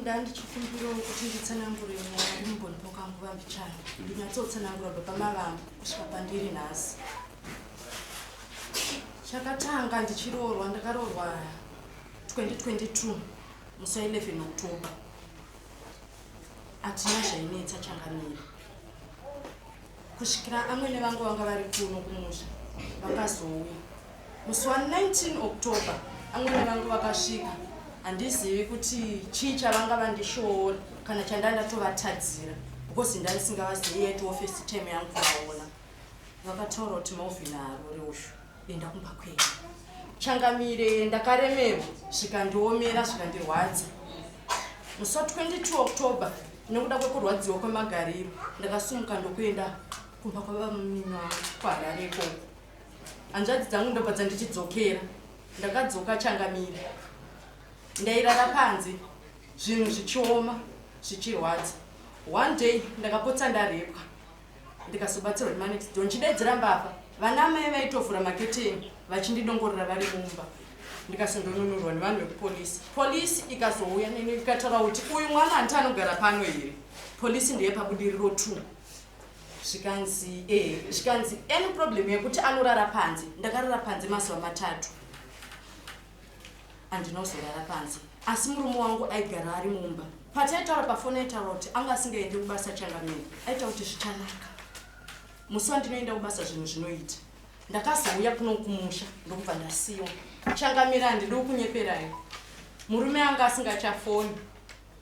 ndandichikumbirawo kuti nditsanangure nyaya ndimbonipo kanguva mbichana ndinyatsotsanangura baba mavangu kusvika pandiri nhasi chakatanga ndichiroorwa ndakaroorwa 2022 musi wa 11 october hatina zvainetsa changamiri kusvikira amwene vangu vanga vari kuno kumusha vakazouya musi wa 19 october amwene vangu vakasvika handizivi kuti chii chavanga vandishoora kana chandanga ndatovatadzira because ndaisingavazivi yaitiwo first time yangu kuvaona vakataura kuti mauvhina haruri ushu enda kumba kwenyu changamire ndakaremerwa zvikandiomera zvikandirwadza musi wa 22 october nekuda kwekurwadziwa kwemagariro ndakasumuka ndokuenda kumba kwavamunini wangu kuharare ikoko hanzvadzi dzangu ndobva dzandichidzokera ndakadzoka changamire ndairara panze zvinhu zvichioma zvichirwadza one day ndakapotsa ndarepwa ndikazobatsirwa nemanext door ndichidedzera mbavha vana amai vaitovhura maketeni vachindidongorera vari mumba ndikasondonunurwa nevanhu vekupolisi polisi ikazouya neni ikataura kuti uyu mwana hanti anogara pano here polisi ndeye pabudiriro t zvikanzi e zvikanzi any problem yekuti anorara panze ndakarara panze mazuva matatu andinozorara panze asi murume wangu aigara ari mumba pataitaura pafoni aitaura kuti anga asingaende kubasa changamire aita kuti zvichanaka musi wandinoenda kubasa zvinhu zvinoita ndakazouya kuno kumusha ndokubva ndasiwa changamire handidi kunyeperayo murume anga asingachafoni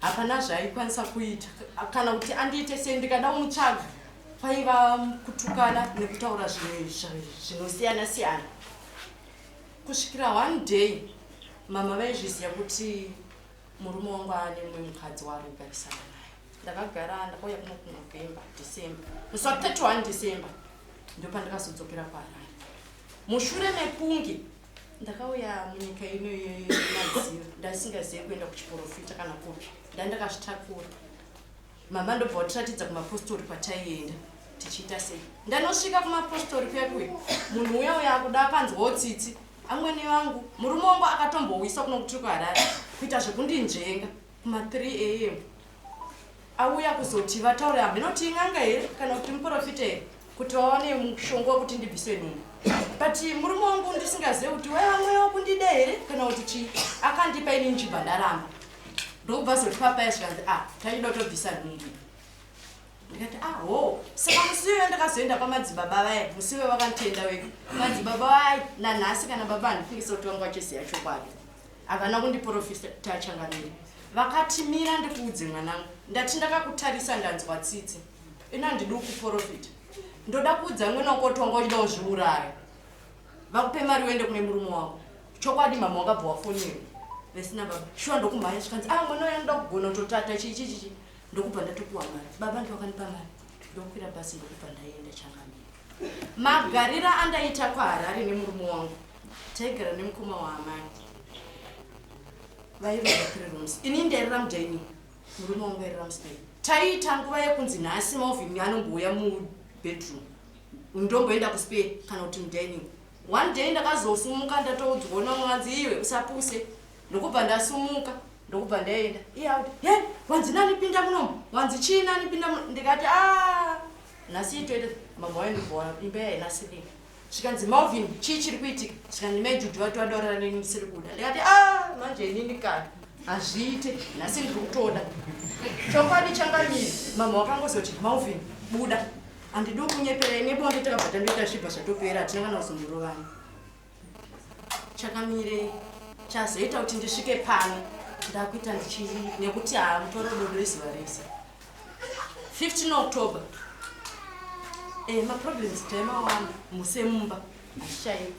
hapana zvaaikwanisa kuita kana kuti andiite sei ndikada kumutsvaga kwaiva kutukana nekutaura zvinhu zvinosiyana siyana Kusvikira one day mama vaizviziva kuti murume wangu aane mumwe mukadzi waari kugarisana naye. Ndakagara ndakauya kuno kuNovember, December. Musi wa 31 December ndopandakazodzokera kwaRari. Mushure mekunge ndakauya munyika ino yemadziva ndaisingazive kuenda kuchiporofita kana kupi. Ndandakazvitakura. Mama ndobva watiratidza kumapostori kwataienda tichiita sei ndanosvika kumapostori kuya kuya munhu uya uya akuda akanzwawo tsitsi amwene vangu murume wangu akatombouyiswa kuno kutiri kuharare kuita zvekundinzvenga kuma 3 am auya kuzoti vataure hamheno kuti in'anga here kana kuti muprofita here kuti vawane mushonga wekuti ndibviswe nini but murume wangu ndisingazive kuti waiva mweya wekundida here kana kuti chii akandipa ini ndichibva ndaramba ndokubva azotipa paya zvikanzi a ah, tachida kutobvisa nhumbu ndikati a ah, ho saka musi weyo ndakazoenda kwamadzibaba vaye musi weyo vakanditenda wega madzibaba vaye nanhasi kana baba handifungisa kuti vanga vachiziva chokwadi havana kundiporofita tachangamiri vakatimira ndikuudze mwanangu ndati ndakakutarisa ndanzwa tsitsi ino handidi kuporofita ndoda kuudza mwana wako kuti wanga uchida kuzviuraya Vakupe mari uende kune murume wako. Chokwadi mama wakabva wafonera. Vesina baba. Shuwa ndokumhanya zvikanzi ah mwana uya ndoda kugona kutotata chii chii chii. Ndokubva ndatopiwa mari. Baba ndivo vakanipa mari. Ndokwira basi ndokubva ndaienda changamire. Magarira andaita kwaHarare nemurume wangu. Taigara nemukoma waamai. Vaiva three rooms. Ini ndairara mudining. Murume wangu airara muspare. Taiita nguva yekunzi nhasi Malvin anombouya mubedroom. ndomboenda kuspare kana kuti mudining one day ndakazosumuka ndatoudzwawo namwe vanzi iwe usapuse ndokubva ndasumuka ndokubva ndaenda iye auti he wanzi nani pinda munomu wanzi chii nani pinda muno ndikati a ah, nhasi itoita mama waindiboa imba yainasirika zvikanzi malvin chii chiri kuitika zvikanzi mai judhi vati vadaurira neni musiri kuda ndikati a ah, manje inini kana hazviite nhasi ndiri kutoda chokwadi changamiri mama wakangozoti malvin buda Handidi kunyepera ine bonde takabva tandoita zvibva zvatopera hatina kana kuzomborovana. Chakamirei chazoita kuti ndisvike pano ndakuita ndichii nekuti haamutore dodo izuva rese 15 october e, maproblems taimawanda musemumba hazvichaiva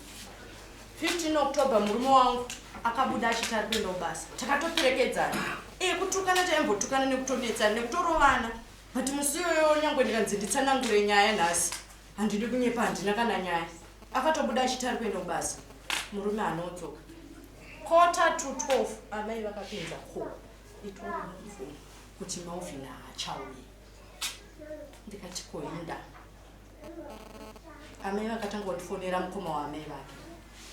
15 october murume wangu akabuda achiti ari kuenda kubasa takatoperekedzana e, kutukana taimbotukana nekutonetsana nekutorovana but musi iyoyo nyangwe ndikanzi nditsanangure nyaya nhasi handidi kunyepa handina kana nyaya akatobuda achiti ari kuenda kubasa murume anodzoka kota to 12 amai vakapinza ko itori mubvumo kuti mauvina haachauye ndikati koinda amai vakatanga kundifonera mukoma waamai vake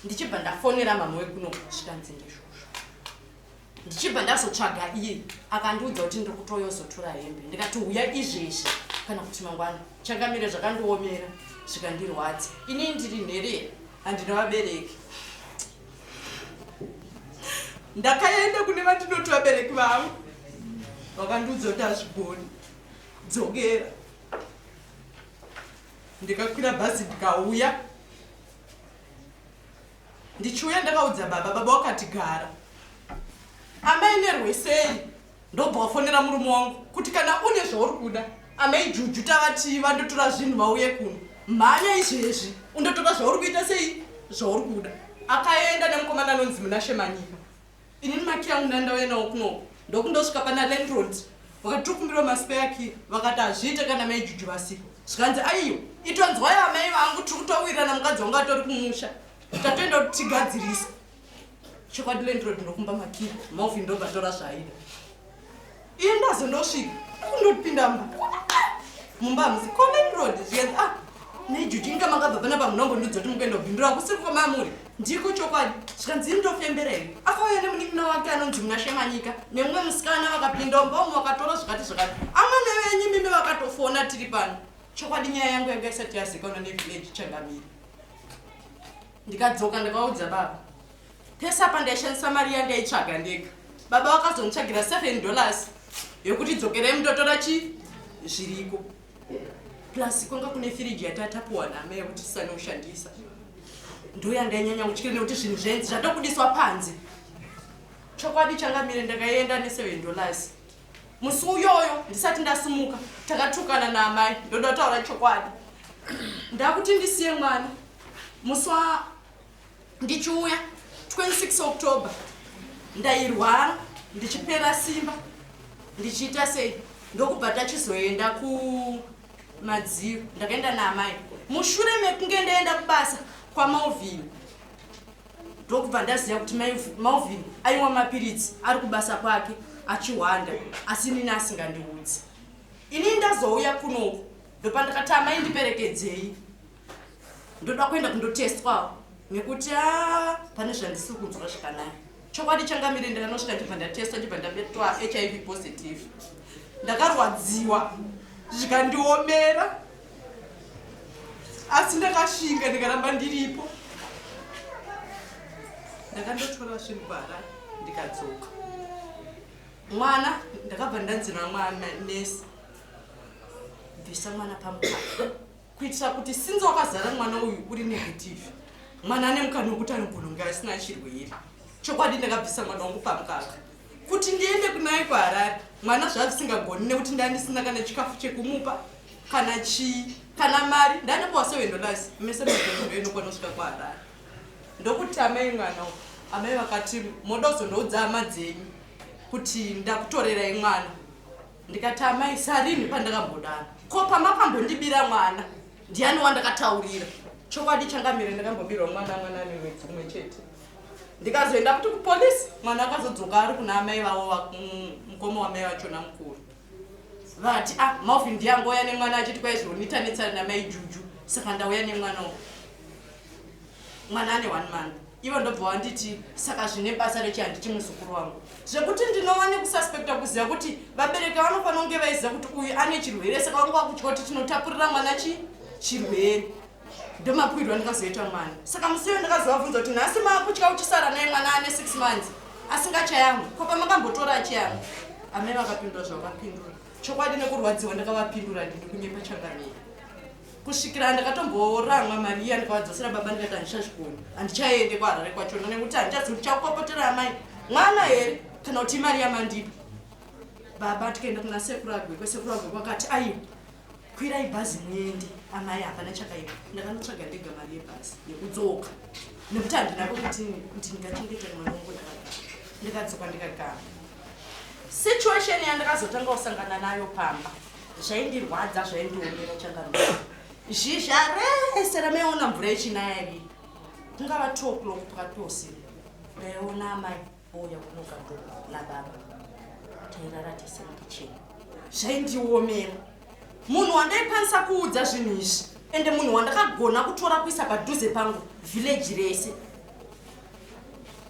ndichibva ndafonera mama wekuno zvikanzi ndizvozvo ndichibva ndazotsvaga iye akandiudza kuti ndiri kutoyozotora hembe ndikati huya izvezvi kana kuti mangwana changamire zvakandiomera zvikandirwadza ini ndiri nherera handina vabereki ndakaenda kune vandinoti vabereki vangu vakandiudza kuti hazvigoni dzokera ndikakwira bhazi ndikauya Ndichiuya ndakaudza baba, baba wakati gara. Amai nerwesei ndobva wafonera murume wangu kuti kana une zvauri kuda amai juju tavatii vandotora zvinhu vauye kuno mhanya izvezvi undotora zvauri kuita sei zvauri kuda akaenda nemukomana anonzi munashe manyika Ini maki yangu ndandauya nawo kunoko ndokundosvika pana landlord vakati tokumbirwa maspare key vakati hazviite kana mai juju vasiko zvikanzi aiyo itonzwai amai vangu tiri kutowirirana mukadzi wangu atori kumusha tatoenda kuti tigadzirisa chokwadi landlord ndokumba makii maofi ndobva tora zvaida Ini ndazondosvika kundopinda mumba musi common road zviyenzi ah nejuju inga makabva pana pamunongo ndidzo kuti mukuenda kubhindura kusiri kwamamuri ndiko chokwadi zvikanzi ini ndofembera here afauya nemunin'ina wake anonzi muna shemanyika nemumwe musikana vakapinda umba umwe vakatora zvakati zvakati amwe nevenyu mimi vakatofona tiri pano chokwadi nyaya yangu yanga isati yazikanwa nevillage changamiri ndikadzoka ndakaudza baba pese apa ndaishandisa mari yandaitsvaga ndega baba vakazonditsvagira 7 dollars yekuti dzokerei mutotora chi zviriko plus kwanga kune firiji yatatapuwa name yekuti tisane kushandisa ndoyandainyanya kutyira nekuti zvinhu zvenzi zvatokudiswa panze chokwadi changamire ndakaienda ne7 dollars musi uyoyo ndisati ndasumuka takatukana naamai ndoda kutaura chokwadi ndakuti ndisiye mwana musi ndichiuya 26 october ndairwara ndichipera simba ndichiita sei ndokubva tachizoenda kumadziro ndakaenda naamai mushure mekunge ndaenda kubasa kwamalvin ndokubva ndaziva kuti malvin aimwa mapiritsi ari kubasa kwake achihwanda asi nini asingandiudzi ini ndazouya kunoku ndopandakati amai ndiperekedzei ndoda kuenda kundotestwawo nekuti a ah, pane zvandisiri kunzwa zvakanaka chokwadi changamire ndakanosvika ndibva ndatestwa ndibva ndabetwa hiv positive ndakarwadziwa zvikandiomera asi ndakashinga ndikaramba ndiripo ndakandotora zvinhu bara ndikadzoka mwana ndakabva ndanzira mwana nesi bvisa mwana pamukaka kuitira kuti since wakazara mwana uyu uri negative mwana ane mukana wekuti anogona kunge asina chirwere chokwadi ndakabvisa mwana wangu pamukaka kuti ndiende kunaye kuharare mwana zvavisingagoni nekuti ndandisina kana chikafu chekumupa kana chii kana mari ndanopawa sewendolas mese maondo inokwana kusvika kuharare ndokuti amai mwana u amai vakati moda kuzondoudza hama dzenyu kuti ndakutorerai mwana ndikati amai sarini pandakambodana ko pama pambondibira mwana ndiani wandakataurira chokwadi changamire ndakambobirwa mwana mwana ane mwedzi umwe chete ndikazoenda kuti kupolisi mwana akazodzoka ari kuna amai vavo mm, mukoma wamai vachona mukuru vati ah maufi ndiyangoya nemwana achiti kwaizvonita netsari namai juju saka ndauya nemwana uku mwana ane one month ivo ndobva wanditi saka zvine basa rechi handiti muzukuru wangu zvekuti ndinova nekususpekta kuziva kuti vabereki vanofanira kunge vaiziva kuti uyu ane chirwere saka vanga vakutya kuti tinotapurira mwana chi chirwere ndomapwirwa ndikazoita mwana saka musi uyo ndakazovabvunza kuti nhasi maakutya uchisara naye mwana ane six months asingachayangu ko pamakambotora achiyangu amai vakapindura zvavakapindura chokwadi nekurwadziwa ndakavapindura ndini kunyepa changamira kusvikira ndakatomboramwa mari iya ndikavadzosera baba ndikati handichazvigoni handichaende kwaharare kwachona nekuti handichazi kuti chakukokotera amai mwana here kana kuti imari yamandipa baba tikaenda kuna sekuru agwekwe sekuru agwekwe akati aiwa kwirai bhazi muende amai hapana chakaipa ndakanotsvaga ndega mari yebhazi yekudzoka nekuti handinako kuti kuti ndingachengeta mwana wangu ndakadzoka ndikagara situation yandakazotanga kusangana nayo pamba zvaindirwadza zvaindiomera changaruu zhizha rese ramaiona mvura yechinaya iri kungava two o'clock pakati peusiri ndaiona amai ouya kunoka do nababa tairara tese mukicheni zvaindiomera munhu wandaikwanisa kuudza zvinhu izvi ende munhu wandakagona kutora kuisa padhuze pangu vhileji rese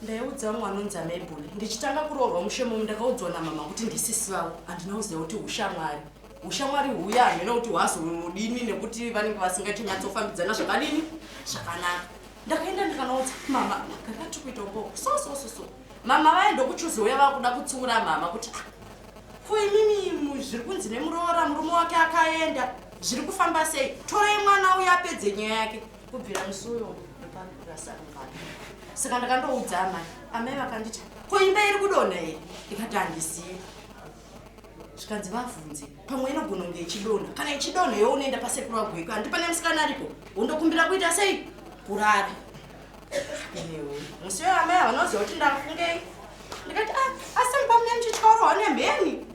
ndaiudza vamwe vanonzi amaibhoni ndichitanga kuroorwa mushe momu ndakaudzwa namama kuti ndisisi vavo handina kuziva kuti ushamwari ushamwari huya hamhena kuti hwazonodini nekuti vanenge vasingatinyatsofambidzana zvakadini zvakanaka ndakaenda ndikanaudza mama kakati kuita ukoko so so so so mama vaye ndokuchuzi uya vakuda kutsiura mama kuti ah, ko imimi zviri kunzi nemuroora murume wake akaenda zviri kufamba sei torai mwana uya apedze nyaya yake kubvira musi uyo ndopandikurasarumbana saka ndakandoudza amai amai vakanditi ko imba iri kudonha iri ndikati handizivi zvikanzi vabvunze pamwe inogona kunge ichidonha kana ichidonha yo unoenda pasekuru wagweko handi pane musikana aripo undokumbira kuita sei kurara musi uyo amai havanoziva kuti ndafungei ndikati ah, asi mupamune muchityaurawa nemheni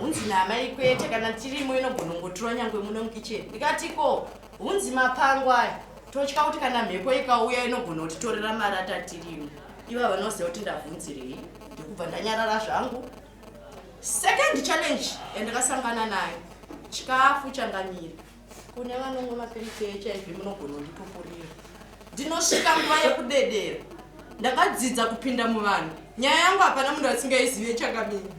hunzi naamai kwete kana tirimo inogonongotura nyangwe muno mukicheni ndikati ko hunzi mapango aya totya kuti kana mhepo ikauya inogona kutitorera mari atatirimo iva vanoziva kuti ndavhunzirei ndikubva ndanyarara zvangu second challenge yandakasangana nayo chikafu changamira kune vanonwa mapiritsi ehiv munogona kunditokurira ndinosvika nguva yekudedera ndakadzidza kupinda muvanhu nyaya yangu hapana munhu asingaizive chakamira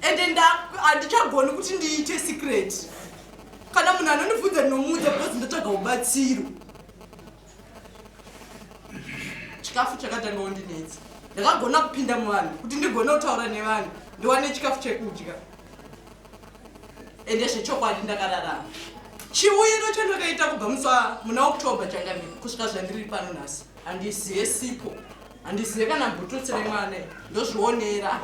ende handichagoni kuti ndiite secret kana munhu anondibvunza ndinomuudza because ndotsvaga ubatsiro chikafu chakatanga undinetsa ndakagona kupinda muvanhu kuti ndigone kutaura nevanhu ndiwane chikafu chekudya ende zvechokwadi ndakararama chiuyiro chandakaita kubva musa muna oktober changani kusvika zvandiri pano nhasi handizive sipo handizive kana bhututsi remwana ndozvionera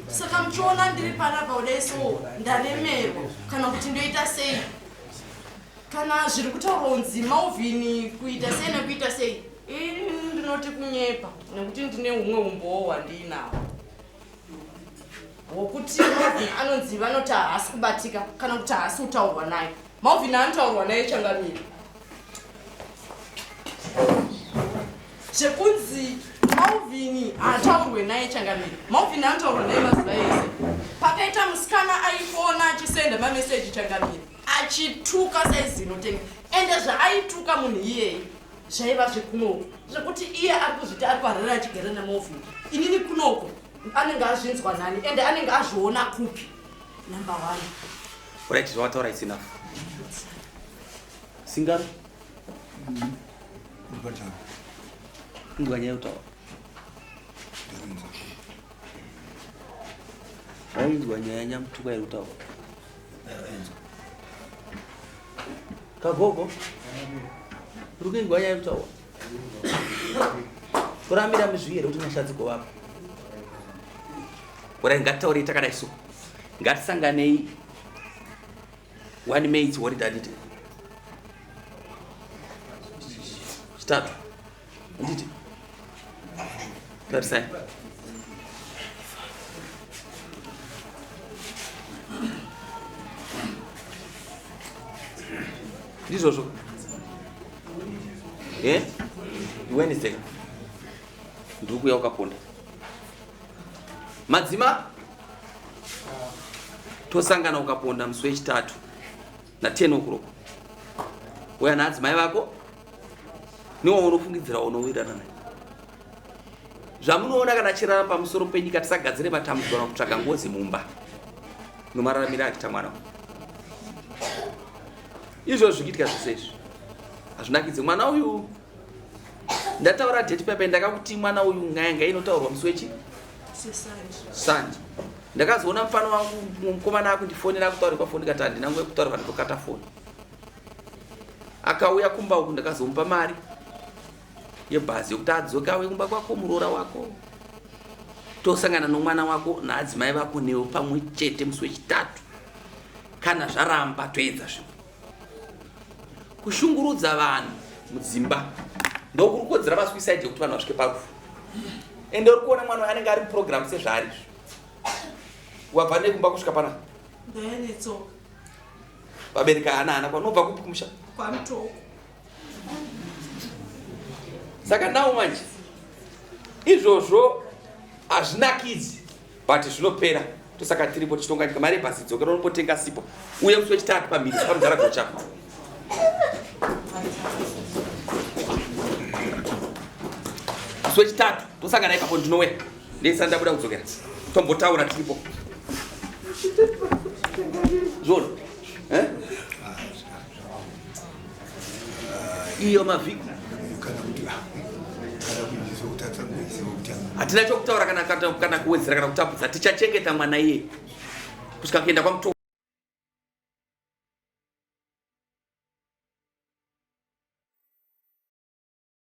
saka muchiona ndiri panapa kudai so ndaremerwa kana kuti ndoita sei kana zviri kutaurwa kunzi mauvhini kuita sei nekuita sei ini ndinoti kunyepa nekuti ndine umwe umbowo hwandiinawo wokuti Malvin anonzi vanoti haasi kubatika kana kuti haasi kutaurwa naye Malvin anotaurwa naye changamire zvekunzi Malvin haataurwe naye changamire Malvin anotaurwa naye mazuva ese pakaita musikana aifona achisenda mameseji changamire achituka saizi inotenga ende zvaaituka munhu iyeye zvaiva zvekunoko zvekuti iye ari kuzviti ari kuharira achigara nemovi inini kunoko anenge azvinzwa nani ende anenge azviona kupi number one right zvawataura it's enough singaro nguva nyaya yekutaura wainzwa nyaya nyamutuka yekutaura kagogo uri kuingwa nyaya yekutaura toramira mizvii here kuti nyasha dzigovapa kurai ngatitaurei takadai so ngatisanganei one mates wori dadite chitatu Anditi. Tarisai. Ndizvozvo. Eh? Wednesday. Ndiri kuuya ukaponda. Madzima tosangana ukaponda musi wechitatu. na 10 o'clock uya naadzimai vako newaunofungidzira unowirirana naye zvamunoona kana achirara pamusoro penyika tisagadzire matambudziko na kutsvaga ngozi mumba nomararamiro achiita mwana izvo zvikuitika zvese izvi hazvinakidze mwana uyu ndataura date papai ndakakuti mwana uyu nyaya ngai inotaurwa musi wechi sanje ndakazoona mufana wangu mukomana akundifonera akutaura pafoni ndikati handina nguva yekutaura vandokata foni akauya kumba uku ndakazomupa mari yebhazi yokuti adzoke auye kumba kwako muroora wako tosangana nomwana wako naadzimai vako newo pamwe chete musi wechitatu kana zvaramba toedza zvimwe kushungurudza vanhu mudzimba ndokuri kodzera vasuicide yekuti vanhu vasvike parufu ende uri kuona mwana anenge ari muprogramu sezvaari izvo wabva nekumba kusvika pana vabereki ana ana kwanobva kupi kumusha kwamtoko saka now manje izvozvo hazvinakidzi but zvinopera tosaka tiripo tichitonganyika mari yebhasi dzokera unombotenga sipo uye musi wechitatu pamhiri pamudhara gocha musi wechitatu tosangana ipapo ndinouya ndisana ndabuda kudzokera tombotaura tiripo zvona eh? iyo mavhiki hatina chokutaura kana kuwedzera kana kutapudza tichachengeta mwana iye kusvika kuenda kwamuto